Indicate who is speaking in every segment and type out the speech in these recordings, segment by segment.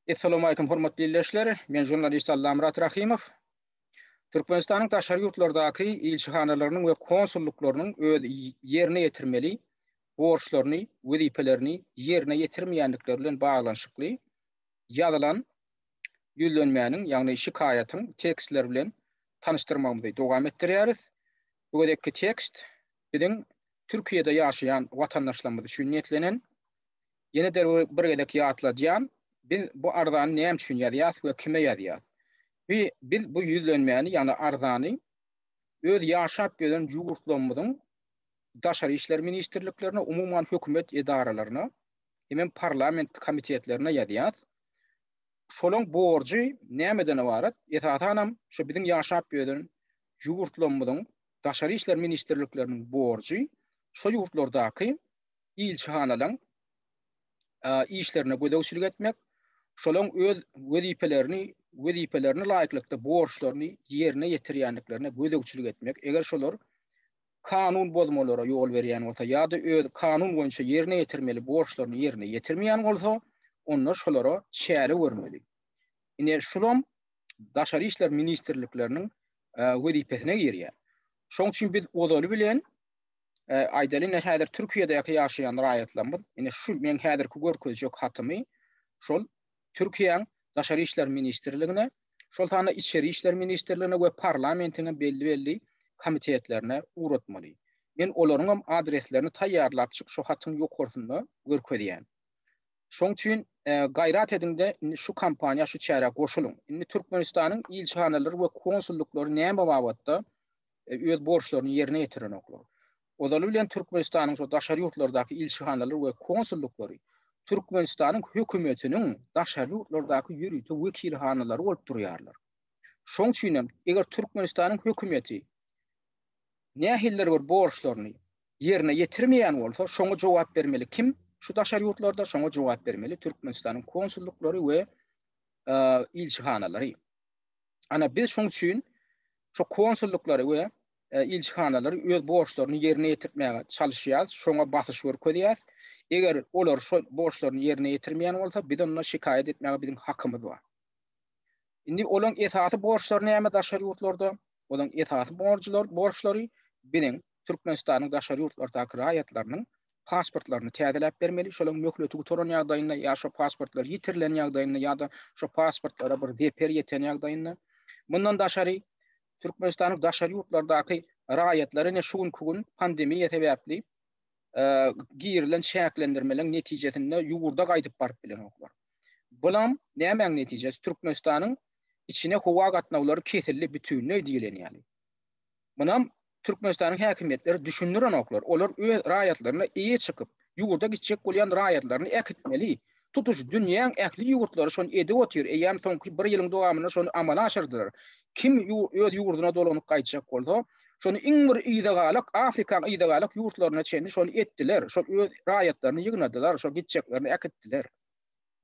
Speaker 1: Essalawmalikim hormatly ildeşler, men žurnalist Allamyrat Rahymow. Türkmenistanyň daşary ýurtlardaky ilçihanalarynyň we konsullyklarynyň öz ýerine ýetirmeli borçlaryny, wezipelerini ýerine ýetirmeýändikleri bilen baglanyşykly ýazylan ýüzlenmäniň, ýagny şikaýatyň tekstleri bilen tanyşdyrmagymyzy dowam etdirýäris. Bu gezekki tekst biziň Türkiýede ýaşaýan watandaşlarymyz üçin niýetlenen. Ýene de bir gezek ýatladýan, biz bu arzany näme üçin ýazýas we kime ýazýas? Bi biz bu ýüzlenmäni, ýagny arzany öz ýaşap ýören ýurtlarymyzyň Daşary işler ministrliklerine, umuman hökümet edaralaryna hemem parlament komitetlerine ýazýas. Şolaň borjy nämeden ybarat? Esasanam şu biziň ýaşap ýören ýurtlarymyzyň Daşary işler ministrlikleriniň borjy şo ýurtlardaky ilçihanalaryň işlerine gözegçilik etmek, şolaryň öz wezipelerini wezipelerine laýyklykda borçlaryny ýerine ýetirýändiklerine gözegçilik etmek, eger şolar kanun bozmalara ýol berýän bolsa ýa-da öz kanun boýunça ýerine ýetirmeli borçlaryny ýerine ýetirmeýän bolsa, onda şolara çäre görmeli. Ine, şulam Daşary işler ministrlikleriniň wezipesine girýär. Şonuň üçin biz ozaly bilen aýdaly indi häzir Türkiýedäki ýaşaýan raýatlarymyz indi şu men häzirki görkezjek hatymy şol Türkiýäň Daşary işler ministrligine, şol sanda Içeri işler ministrligine we parlamentiň belli-belli komitetlerine ugratmaly. Men olaryň hem adreslerini taýýarlap çyk şu hatyň ýokarsynda görkezýän. Şoň üçin e, gaýrat ediňde indi şu kampaniýa şu çärä goşulyň. Indi Türkmenistanyň ilçihanalary we konsullyklary näme babatda e, öz borçlaryny ýerine ýetirenoklar. Ozaly bilen Türkmenistanyň şu daşary ýurtlardaky ilçihanalary we konsullyklary Türkmenistanyň hökümetiniň daşary ýurtlardaky ýörite wekilhanalary bolup durýarlar. Şoň üçin hem eger Türkmenistanyň hökümeti nähildir bir borçlaryny ýerine ýetirmeýän bolsa, şoňa jogap bermeli kim? Şu daşary ýurtlarda şoňa jogap bermeli Türkmenistanyň konsullyklary we e, ilçihanalary. Ana biz şoň üçin şu konsullyklary we e, ilçihanalary öz borçlaryny ýerine ýetirmäge çalyşýarys, şoňa basyş görkezýäris. Eger olar şu borçlaryny ýerine ýetirmeýän bolsa, biz onda şikaýat etmäge biziň hakymyz bar. Indi olaryň esasy borçlary näme daşary ýurtlarda? Olaryň esasy borçlary, borçlary biziň Türkmenistanyň daşary ýurtlardaky raýatlarynyň pasportlaryny täzeläp bermeli, şolaryň möhleti gutaran ýagdaýynda ýa şo pasportlar ýitirilen ýagdaýynda ýa-da şo pasportlara bir zeper ýeten ýagdaýynda. Mundan daşary, Türkmenistanyň daşary ýurtlardaky raýatlary ine şu günki gün pandemiýa sebäpli girilen çäklendirmeleriň netijesinde ýurda gaýdyp baryp bilenoklar. Bulam nämäň netijesi? Türkmenistanyň içine howa gatnawlary kesildi bütinleý diýlen ýaly. Munam Türkmenistanyň häkimiýetleri düşündirenoklar. Olar öz raýatlaryna eýe çykyp, ýurda gitjek bolýan raýatlaryny äkitmeli. Tutuş dünýäň ähli ýurtlary şony edip otyr, eýýäm soňky bir ýylyň dowamynda şony amala aşyrdylar. Kim öz ýurduna dolanyp gaýtjak bolsa, şony iň bir yzagalak, Afrikaň yzagalak ýurtlaryna çenli şony etdiler. Şol öz raýatlaryny ýygnadylar, şol gitjeklerini äkitdiler.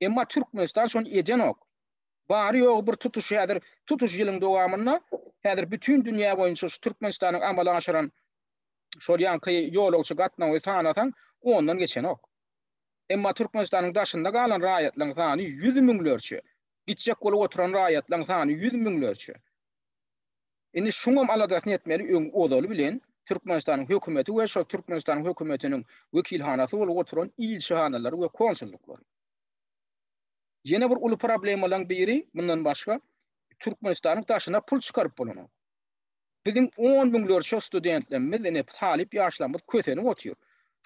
Speaker 1: Emma Türkmenistan şony edenok. Bary-ýogy bir tutuş häzir tutuş ýylyň dowamynda häzir bütin dünýä boýunça şu Türkmenistanyň amala aşyran şol ýaňky ýolagçy gatnawy sanasaň, ondan geçenok. Emma Türkmenistanyň daşynda galan raýatlaryň sany ýüz müňlerçe. Gitjek bolup oturan raýatlaryň sany ýüz müňlerçe. Indi şuňam aladasyny etmeli öň ozaly bilen Türkmenistanyň hökümeti we şol Türkmenistanyň hökümetiniň wekilhanasy bolup oturan ilçihanalary we konsullyklary. Ýene bir uly problemalaryň biri, mundan başga, Türkmenistanyň daşyna pul çykaryp bolanok. Biziň on müňlerçe studentlerimiz, ine, talyp ýaşlarymyz kösenip otyr.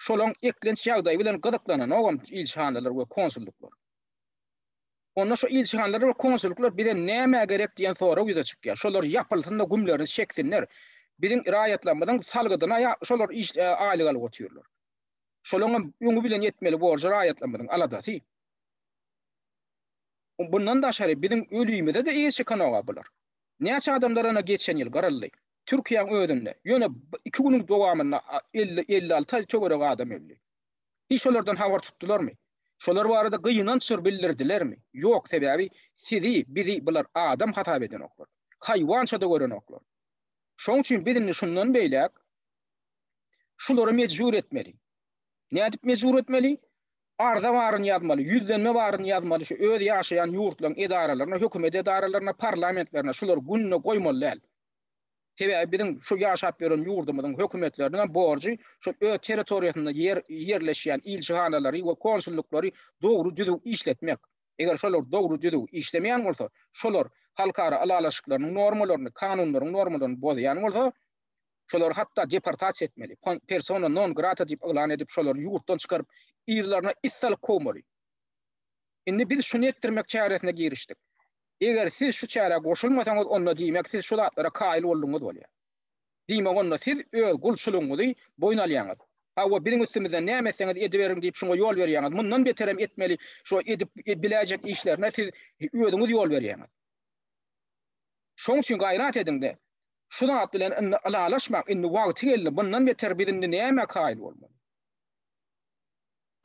Speaker 1: Şolaryň eklenç ýagdaýy bilen gyzyklananogam ilçihanalar we konsullyklar. Onda şu ilçihanalar we konsullyklar bize nämä gerek diýen sorag ýüze çykýar. Şolar ýapylsyn-da, gümlerini çeksinler. Biziň raýatlarymyzyň salgydyna ýa şolar iş aýlyk alyp otyrlar. Şolaryň hem öňi bilen ýetmeli borjy raýatlarymyzyň aladasy. Bundan daşary biziň ölümize-de eýe çykanok-a bular. Näçe adamlar ana geçen ýyl gyryldy. Türkiýäň özünde, ýöne iki günüň dowamynda elli, elli-alty töweregi adam öldi. Hiç şolardan habar tutdularmy? Şolar barada gynanç bir bildirdilermi? Ýok, sebäbi sizi, bizi bular adam hasap edenoklar. Haýwança-da görenoklar. Şoň üçin biz indi şundan beýläk şulary mejbur etmeli. Nädip mejbur etmeli? Arza baryny ýazmaly, ýüzlenme baryny ýazmaly şu öz ýaşaýan ýurtlaryň edaralaryna, hökümet edaralaryna, parlamentlerine şulary gününe goýmaly däl. Sebäbi biziň şu ýaşap ýören ýurdumyzyň hökümetleriniň hem borjy şol öz territoriýasynda ýer ýerleşýän ilçihanalary we konsullyklary dogry düzüw işletmek. Eger şolar dogry düzüw işlemeýän bolsa, şolar halkara ylalaşyklarynyň normalaryny, kanunlaryň normalaryny bozýan bolsa, Şolary hatda deportasiýa etmeli, persona non grata diýip yglan edip, şolary ýurtdan çykaryp, yzlaryna it salyp kowmaly. Indi biz şuny etdirmek çäresine girişdik. Eger siz şu çärä goşulmasaňyz, onda diýmek siz şu zatlara kaýyl boldugyňyz bolýar. Diýmek onda siz öz gulçulygyňyzy boýun alýaňyz. Hawa, biziň üstümizden näme etseňiz ediberiň diýip şuňa ýol berýäňiz. Mundan beterem etmeli, şo edip biläýjek işlerine siz özüňiz ýol berýäňiz. Şoň üçin gaýrat ediňde, Şu zat bilen indi ylalaşmaň, indi wagty geldi, mundan beter biz indi nämä kaýyl bolmaly?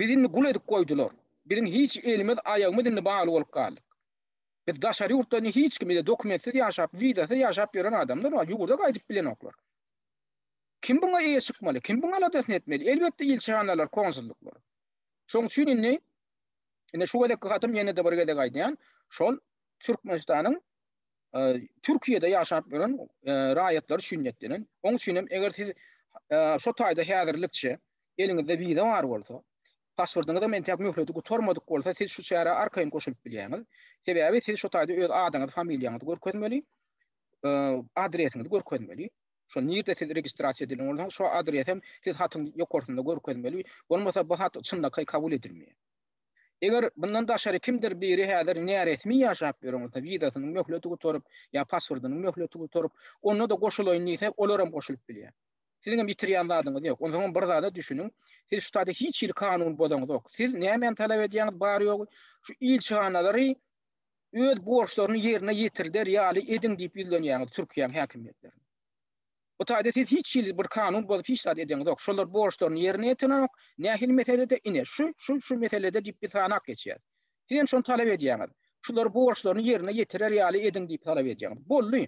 Speaker 1: Bizi indi gul edip goýdular. Biziň hiç elimiz, aýagymyz indi bagly bolup galdyk. Biz daşary ýurtda indi hiç kim, bizde dokumentsiz ýaşap, wizasyz ýaşap ýören adamlar bar, ýurda gaýdyp bilenoklar. Kim buňa eýe çykmaly? Kim buň aladasyny etmeli? Elbetde ilçihanalar, konsullyklar. Şoň üçin indi, indi şu gezekki hatym ýene-de bir gezek aýdýan, şol Türkmenistanyň Türkiýede ýaşap ýören raýatlary üçin niýetlenen. Oň üçin hem eger siz şu taýda häzirlikçe eliňizde wiza bar bolsa, pasportyňyz hem entäk möhleti gutarmadyk bolsa, siz şu çärä arkaýyn goşulyp bilýäňiz. Sebäbi siz şu taýda öz adyňyzy, familiýaňyzy görkezmeli, adresiňizi görkezmeli. Şo nirde siz registrasiýa edilen bolsaňyz, şo adres hem siz hatyň ýokarsynda görkezmeli. Bolmasa bu hat çynlakaý kabul edilmeýär. Eger bundan daşary kimdir biri häzir näresmi ýaşap ýören bolsa, wizasynyň möhleti gutaryp ýa pasportynyň möhleti gutaryp, onda-da goşulaýyn diýse, olar hem goşulyp bilýär. Siziň hem ýitirýän zadyňyz ýok. Onsoň hem bir zada düşüniň, siz şu taýda hiç hili kanun bozaňyzok. Siz nämäni talap edýäňiz bary-ýogy, şu ilçihanalary öz borçlaryny ýerine ýetirder ýaly ediň diýip ýüzlenýäňiz Türkiýäň häkimiýetlerine. Bu taýda siz hiç hili bir kanun bozup hiç zat edeniňizok. Şolar borçlaryny ýerine ýetirenok. Nähili meselede? Ine, şu, şu, şu meselede diýip biz sanap geçýäris. Siz hem şony talap edýäňiz. Şular borçlaryny ýerine ýetirer ýaly ediň diýip talap edýäňiz. Boldy.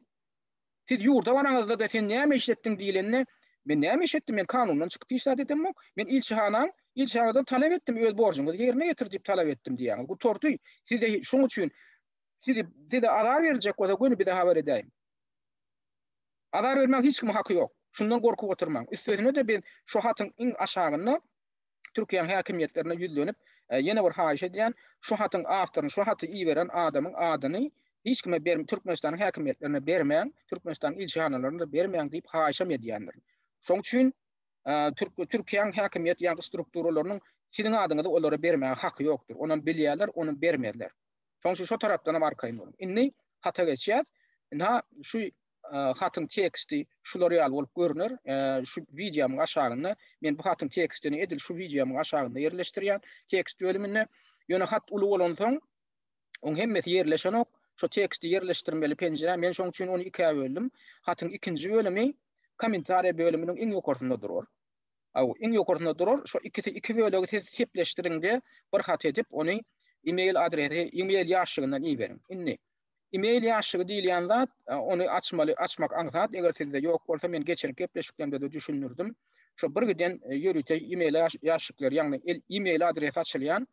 Speaker 1: Siz ýurda baraňyzda-da sen näme iş etdiň diýilende, men näme iş etdim, men kanundan çykyp hiç zat edemok. Men ilçihanaň, ilçihanadan talap etdim, öz borjuňyzy ýerine ýetir diýip talap etdim diýýäňiz. Gutardy. Size şoň üçin sizi size azar berjek bolsa göni bize habar edäýiň. Azar bermäň hiç kimiň haky ýok. Şundan gorkup oturmaň. Üstesine-de biz şu hatyň iň aşagynda Türkiýäň häkimiýetlerine ýüzlenip, ýene bir haýyş edýän, şu hatyň awtoryny, şu haty iberen adamyň adyny hiç kime berm, Türkmenistanyň häkimiýetlerine bermäň, Türkmenistanyň ilçihanalaryna da bermäň diýip haýyşam edýändirin. Şoň üçin Türk, Türkiýäň häkimiýet ýa-da strukturalarynyň siziň adyňyzy olara bermäge haky ýokdur. Onam bilýärler, onam bermezler. Soň şu şo tarapdanam arkaýyn boluň. Indi hata geçýäs. Ina şu hatyň teksti şular ýaly bolup görüner. Şu wideomyň aşagynda men bu hatyň tekstini edil şu wideomyň aşagynda ýerleşdirýän tekst bölüminde. Ýöne hat uly bolansoň oň hemmesi ýerleşenok. Şu teksti ýerleşdirmeli penjire. Men şoň üçin ony ikä böldüm. Hatyň ikinji bölümi kommentariýa bölüminiň iň ýokarsynda durar. Aw, iň ýokarsynda durar, şo ikisi iki bölegi siz sepleşdiriňde bir hat edip ony email adresi email ýaşşygyndan iberiň. Indi email ýaşşygy diýilýän zat ony açmaly açmak aňsat eger sizde ýok bolsa men geçenki gepleşiklerimde-de düşündirdim. Şo birgiden ýörite email ýaşşyklar ýagny email adresi açylýan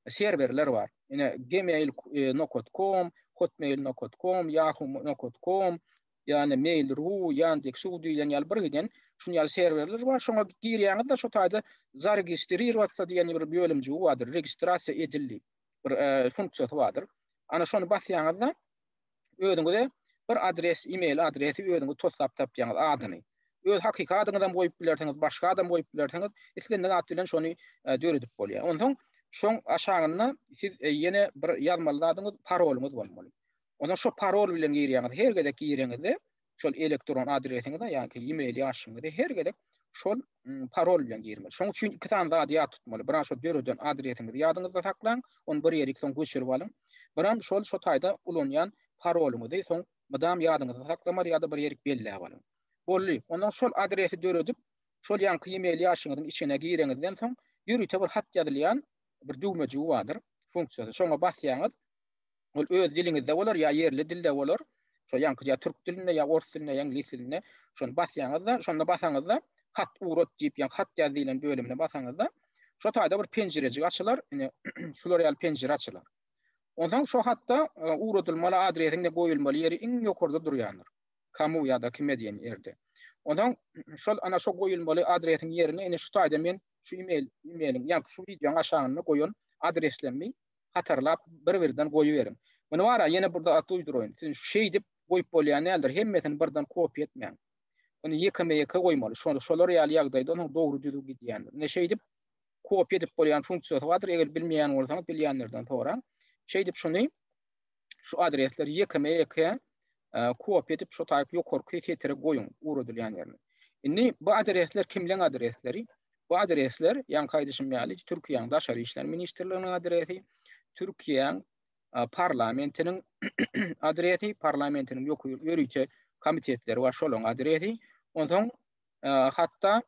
Speaker 1: serwerler bar. Ine gmail. Com, hotmail. Com, yahoo. Com, ýagny Mail.ru, Yandex.ru diýlen ýaly birgiden şuny ýaly serwerler bar. Şoňa girýäňiz-de şu taýda Zaregistrироваться diýen bir bölümjigi bardyr. Registrasiýa edil diýip bir funksiýasy bardyr. Ana şony basýaňyzda özüňize bir adres, e-mail adresi özüňiz toslap tapýaňyz adyny. Öz hakyky adyňyzam goýup bilersiňiz, başga adam goýup bilersiňiz. Islendik at bilen şony döredip bolýar. Onsoň şoň aşagynda siz ýene bir ýazmaly zadyňyz parolyňyz bolmaly. Onda şo parol bilen girýäňiz. Her gezek gireňizde şol elektron adresiňize ýa-da e-mail ýaşyňyza her gezek şol parol bilen girmeli. Şoň üçin iki sany zady ýat tutmaly. Biran şo döreden adresiňizi ýadyňyzda saklaň, ony bir ýerik soň göçürip alyň. Biran şol şo taýda ulanýan parolyňyzy soň mydam ýadyňyzda saklamaly ýa-da bir ýerik belläp alyň. Boldy. Ondan şol adresi döredip, şol ýaňky e-mail ýaşyňyzyň içine gireňizden soň ýörite bir hat ýazylýan bir düwmejigi bardyr, funksiýasy. Şoňa basýaňyz. Ol öz diliňizde bolar ýa ýerli dilde bolar. Şo ýaňky ýa türk dilinde ýa ors dilinde ýa iňlis dilinde. Şony basýaňyzda, şonda basaňyzda Hat urat diýip ýa Hat ýaz diýlen bölümine basaňyzda şo taýda bir penjirejik açylar. Ine şular ýaly penjire açylar. Onsoň şo hatda uradylmaly adresiň de goýulmaly ýeri iň ýokarda durýandyr. Kamu ýa-da kime diýen ýerde. Onsoň şol ana şo goýulmaly adresiň ýerine ine şu taýda men şu email emailiň ýa-da şu wideoň aşagynda goýan adreslerimi hatarlap bir-birden goýuberiň. Muny bar-a, ýene bir zat duýduraýyn, siz şeýdip goýup bolýan däldir, hemmesini birden kopýa etmäň. Ony ýekeme-ýeke goýmaly, şony şolar ýaly ýagdaýda onuň dogry düzüw gidýändir. Ine şeýdip kopýa edip bolýan funksiýasy bardyr, eger bilmeýän bolsaňyz bilýänlerden soraň. Şeýdip şuny. şu adresleri ýekeme ýeke kopiýa edip şu taýyp ýokarky setre goýuň ugradylýan ýerini. Indi bu adresler kimleň adresleri? Bu adresler, ýaňky aýdyşym ýaly, Türkiýäň Daşary işler ministrliginiň adresi, Türkiýäň parlamentiniň adresi, parlamentiniň ýörite komitetleri bar, şolaryň adresi. Onsoň hatda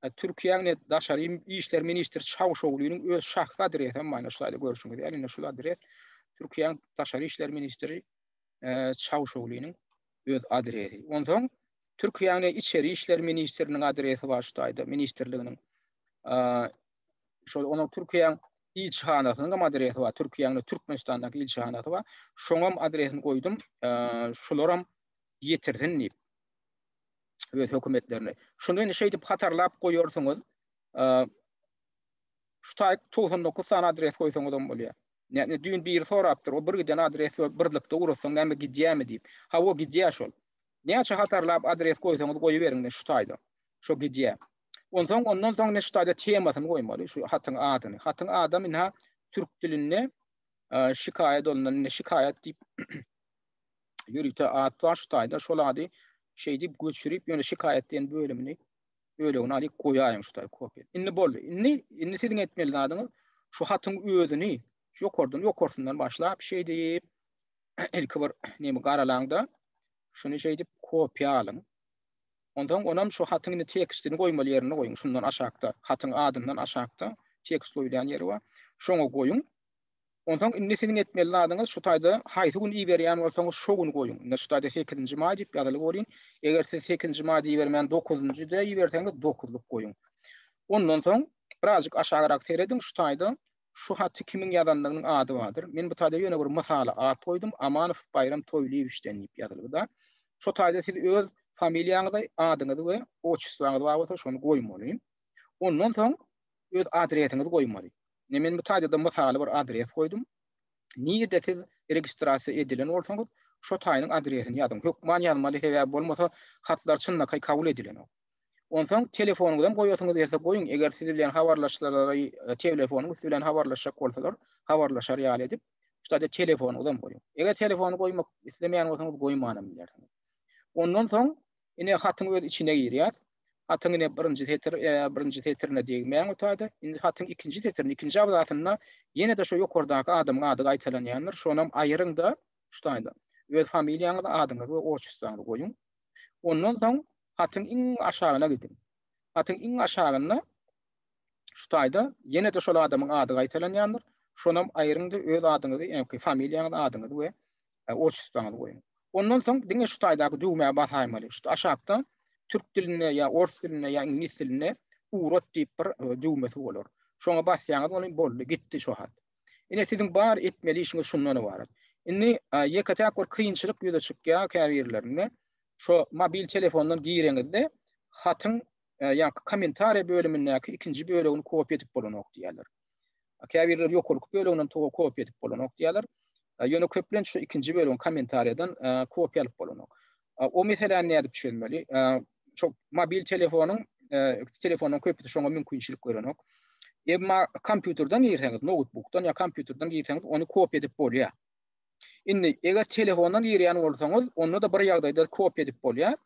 Speaker 1: Türkiýäň daşary işler ministri Çawuşoglynyň öz şahsy adresi hem maýna şaýda görüşiňiz. Ýani indi şul adres Türkiýäň daşary işler ministri Çawuşoglynyň öz adresi. Ondan Türkiýäň içeri işler ministriniň adresi bar şaýda ministrliginiň. Şol onuň Türkiýäň ilçihanasynyň hem adresi bar. Türkiýäň Türkmenistandaky ilçihanasy bar. Şoňam adresini goýdum. Şolaram ýetirsin diýip. öz hökümetlerini. Şuny indi şeýdip hatarlap goýarsyňyz. Şu taýk 99 sany adres goýsaňyz hem bolýar. Näme düýn biri sorapdyr, o bir giden adres we birlikde urutsaň näme gidýärmi diýip. Hawa gidýär şol. Näçe hatarlap adres goýsaňyz goýberiň şu taýda. Şo gidýär. Onsoň ondan soň ne şu taýda temasyny goýmaly, şu hatyň adyny. Hatyň ady indi türk dilinde şikaýat ondan indi şikaýat diýip ýörite at bar şu taýda şol ady şeýdip göçürip ýöne şikaýat diýen bölümini bölegini alyp goýaýyň şu taýda kopiýa. Indi boldy. Indi indi siziň etmeli zadyňyz şu hatyň özüni ýokardan ýokarsyndan başlap şeýdip ilki bir näme garalaňda şuny şeýdip kopiýa alyň. Ondan onam şu hatyň indi tekstini goýmaly ýerine goýuň. Şundan aşakda hatyň adyndan aşakda tekst goýulýan ýeri bar. Şoňa goýuň. Onsoň indi siziň etmeli zadyňyz şu taýda haýsy gün iberýän bolsaňyz şo gün goýuň. Indi şu taýda sekizinji maý diýip ýazylyp bolýn. Eger siz sekizinji maýda ibermän dokuzynjyda iberseňiz dokuzlyk goýuň. Ondan soň birazjyk aşagyrak serediň şu taýda şu haty kimiň ýazandygynyň ady bardyr. Men bu taýda ýöne bir mysala at goýdum Amanow Baýram Toýlyýewiçden diýip ýazylypda. Şo taýda siz öz familiýaňyzy, adyňyzy we otçestwaňyz bar bolsa şony goýmaly. Ondan soň öz adresiňizi goýmaly. Ne men bu taýda-da mysaly bir adres goýdum. Nirede siz registrasiýa edilen bolsaňyz, şo taýynyň adresini ýazyň. Hökman ýazmaly, sebäbi bolmasa hatlar çynlakaý kabul edilenok. Onsoň telefonyňyzam goýasyňyz gelse goýuň, eger siz bilen habarlaşsalar, telefonyň üsti bilen habarlaşjak bolsalar, habarlaşar ýaly edip, şu taýda telefonyňyzam goýuň. Eger telefony goýmak islemeýän bolsaňyz goýmanam bilersiňiz. Ondan soň Ine hatyň öz içine girýär. Hatyň ine birinji setir, e, birinji setirine degmäň otada. Indi hatyň ikinji setirine, ikinji abzasynda ýene-de şu ýokardaky adamyň ady gaýtalanýandyr. Şonam aýyryň-da, şu taýda öz familiýaňyzy, adyňyzy we otçustrany goýuň. Ondan soň hatyň iň aşagyna gidiň. Hatyň iň aşagynda Şu taýda ýene-de şol adamyň ady gaýtalanýandyr. Şonam aýryň-da öz adyňyzy, ýagny familiýaňyzy, adyňyzy we otçestwaňyzy goýuň. Ondan soň diňe şu taýdaky düwmä basaýmaly. Şu aşakda türk dilinde ýa ors dilinde ýa iňlis dilinde urat diýip bir düwmesi bolar. Şoňa basýaňyz welin boldy, gitdi şu hat. Ine siziň bar etmeli işiňiz şundan ybarat. Indi ýeke-täk bir kynçylyk ýüze çykýar käbirlerinde. Şo mobil telefondan gireňizde hatyň e, ýaňky kommentariýa bölümindäki ikinji bölegini kopiýa edip bolanok diýýärler. Käbirleri ýokarky böleginden toga kopiýa edip bolanok diýýärler. E, ýöne köplenç şu ikinji bölegiň kommentariýadan e, kopiýa alyp bolanok. O meseläni nädip çözmeli? Çok mobil telefonyň telefonyň köpüsi şoňa mümkinçilik görenok. Emma kompýuterden girseňiz, notebookdan ýa kompýuterden girseňiz, ony kopiýa edip bolýar. Indi, eger telefondan girýän bolsaňyz, onda-da bir ýagdaýda kopiýa edip bolýar.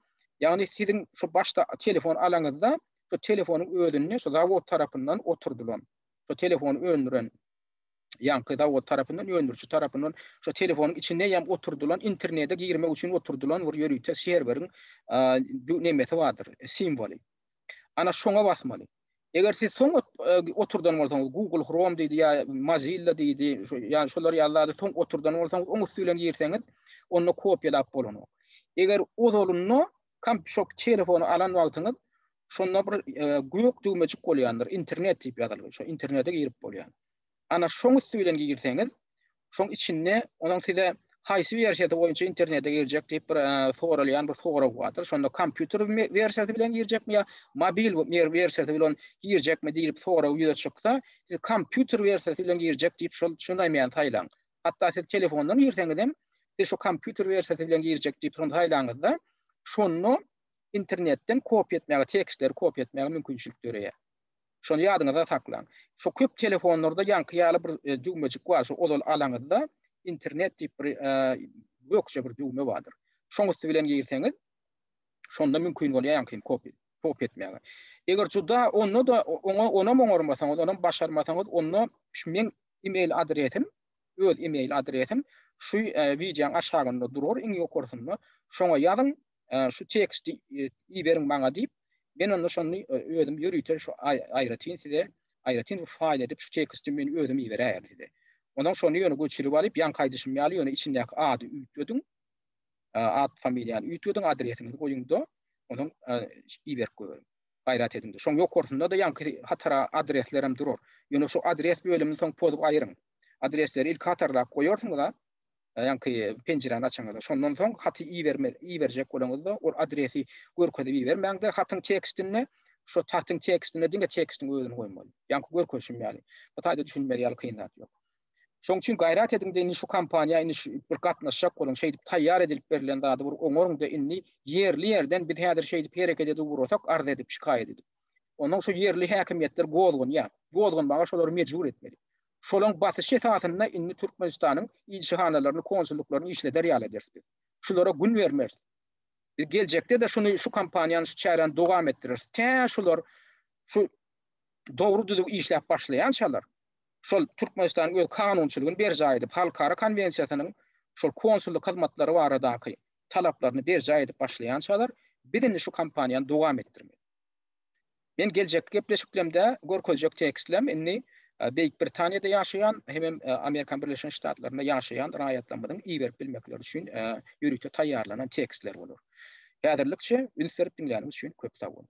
Speaker 1: Ýagny siziň şu başda telefon alaňyzda, şu telefonyň özünde şu zawod tarapyndan oturdylan, şu telefony öndüren ýaňky zawod tarapyndan, öndüriji tarapyndan şu telefonyň içinde ýam oturdylan internete girmek üçin oturdylan bir ýörite serweriň nemesi bardyr, simwoly. Ana şoňa basmaly. Eger siz soň oturdan bolsaňyz, Google Chrome diýdi ýa Mozilla diýdi, ýa şolar ýaly zady soň oturdan bolsaňyz, oň üsti bilen girseňiz, onda kopiýalap bolanok. Eger ozalynda kompşok telefony alan wagtyňyz, şonda bir gök düwmejik bolýandyr, internet diýip ýazylgy, şo internete girip bolýar. ana şoň üsti bilen girseňiz, şoň içinde onuň size haýsy wersiýasy boýunça internete girjek diýip bir soralýan bir sorag bardyr. Şonda kompýuter wersiýasy bilen girjekmi ýa mobil wersiýasy bilen girjekmi diýip sorag ýüze çyksa, siz kompýuter wersiýasy bilen girjek diýip şol şundaýmany saýlaň. Hatda siz telefondan girseňiz hem, siz şu kompýuter wersiýasy bilen girjek diýip şony saýlaňyzda, şonda internetden kopiýa etmäge, tekstleri kopiýa etmäge mümkinçilik döreýär. Şony ýadyňyzda saklaň. Şu köp telefonlarda ýaňky ýaly bir düwmejik bar, şu ozal alaňyzda internet diýip bir gökje bir düwme bardyr. Şoň üsti bilen girseňiz, şonda mümkin bolýar ýaňky kopi, kopi etmäge. Eger juda onda da oňa onam oňarmasaňyz, onam başarmasaňyz, onda şu meň email adresim, öz email adresim şu wideoň aşagynda durar, iň ýokarsynda. Şoňa ýazyň, şu teksti iberiň maňa diýip, men onda şony özüm ýörite şu aýratyn size aýratyn bir faýl edip şu teksti men özüm iberäýerin size. Ondan şony ýöne göçürip alyp ýaňky aýdyşym ýaly ýöne içindäki ady üýtgediň. At familiýany üýtgediň adresiňizi goýuňda onuň iberip göweriň. Gaýrat ediňde. Şoň ýokarsynda-da ýaňky hatara adresler hem durar. Ýöne şu adres bölümini soň pozup aýyryň. Adresleri ilki hatarlap goýarsyňyz-a, ýaňky penjiräni açaňyzda, şondan soň haty iberjek bolaňyzda, ol adresi görkezip ibermäň-de, hatyň tekstinde, şo hatyň tekstinde diňe tekstiň özüni goýmaly. Ýaňky görkezişim ýaly. Bu taýda düşünmeli ýaly kyn zat ýok. Şoň üçin gaýrat ediň-de, indi şu kompaniýa indi şu bir gatnaşjak boluň, şeýdip taýýar edilip berlen zady bir oňaryň-da indi ýerli-ýerden biz häzir şeýdip hereket edip ugrasak, arz edip, şikaýat edip. Onsoň şu ýerli häkimiýetler gozganýar. Gozganmaga şolary mejbur etmeli. Şolaň basyşy esasynda indi Türkmenistanyň ilçihanalaryny, konsullyklaryny işleder ýaly ederis biz. Şulara gün bermeris. Biz geljekde-de şuny, şu kampaniýany, şu çäräni dowam etdireris. Tä şular şu dogry-düzüw işläp başlaýançalar, şol Türkmenistanyň öz kanunçylygyny berjaý edip, halkara konwensiýasynyň şol konsullyk hyzmatlary baradaky talaplaryny berjaý edip başlaýançalar, biz indi şu kampaniýany dowam etdirmeli. Men geljekki gepleşiklemde görkezjek tekstlem indi Beýik Britaniýada ýaşaýan hemem Amerika Birleşen Ştatlarynda ýaşaýan raýatlarymyzyň iberip bilmekleri üçin ýörite taýýarlanan tekstler bolar. Häzirlikçe üns berip diňläniňiz üçin köp sag boluň.